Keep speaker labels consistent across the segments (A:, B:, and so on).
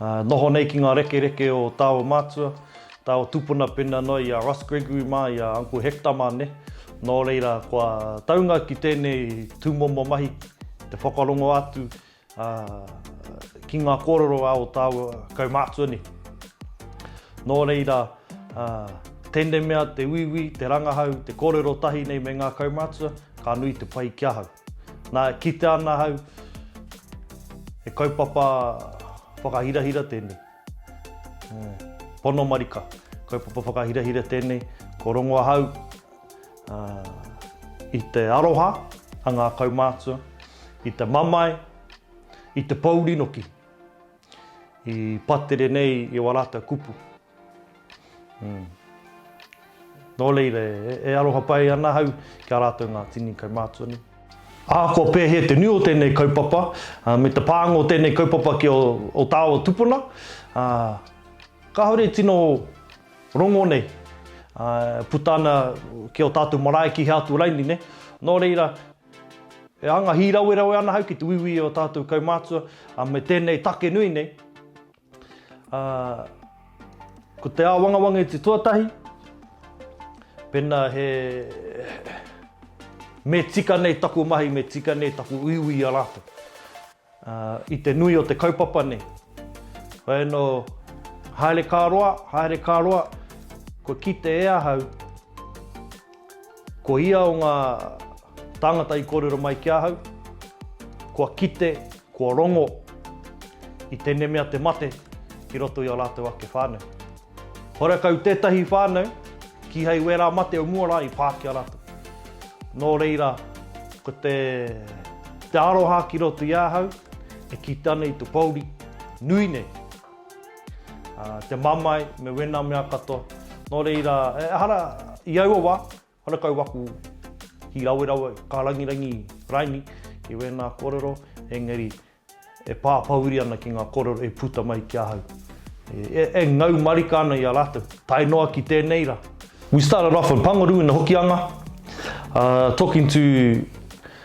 A: Noho nei ki ngā rekereke o tā o mātua, tā o tupuna pēnā noa i a Ross Gregory mā, i a Uncle Hector mā nei. Nō reira, kua taunga ki tēnei tūmomo mahi te whakarongo atu ki ngā kōrero a ō tāua kaumātua nei. Nō reira, tēnei mea te uiui, te rangahau, te kōrero tahi nei me ngā kaumātua, ka nui te pai ki ahau. Nā, e kitea ana ahau, he kaupapa whakahirahira tēnei. Pono marika, kaupapa whakahirahira tēnei. Ko rongo ahau i te aroha a ngā kaumātua, i te mamae, i te pōuri noki, i patere nei i o rātou kupu. Nō reira, e aroha pai ana ahau ki a rātou ngā tini kaumātua nei. Ahakoa pēhea te nui o tēnei kaupapa, me te pānga o tēnei kaupapa ki ō tāua tupuna, kāore e tino rongo nei, e puta ana ki ō tātou marae ki hea atu raini nei. Nō reira, e anga hīrawerawe ana ahau ki te uiui i ō tātou kaumātua me tēnei take nui nei. Ā, ko te āwangawanga i te tuatahi, pēnā he, me tika nei taku mahi, me tika nei taku uiui i a rātou. Ā, i te nui o te kaupapa nei, whai anō, haere ka roa, haere ka roa, kua kite e ahau, Ko ia o ngā tāngata i kōrero mai ki ahau, kua kite, kua rongo i tēnei mea te mate ki roto i ō rātou ake whānau. Horekau tētahi whānau, kīhai wērā mate o mua rā i pā ki a rātou. Nō reira, ko te aroha ki roto i ahau, e kite ana i te pōuri nui nei. Te mamae me wena mea katoa. No reira, ehara i aua wa, hara kau waku hi rawerawe, ka rangirangi raini i wena korero, engari e papauri ana ki nga korero e puta mai ki ahau. E ngau marika ana i a ratou, tae noa ki tenei ra. We started off in Pangaru in the Hokianga, talking to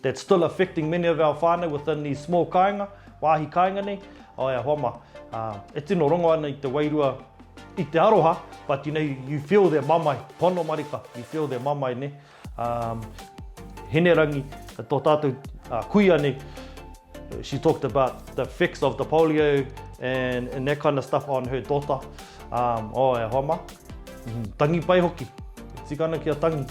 A: That's still affecting many of our whānau within these small kāinga, wāhi kāinga nei, ae a hoa ma, e tino rongo ana i te wairua, i te aroha, but you know, you feel their mamae, pono marika, you feel their mamae ne, Hinerangi, tō tātou kuia nei, she talked about the effects of the polio and that kind of stuff on her daughter, ae a hoa ma, tangi pai hoki, tika ana kia tangi,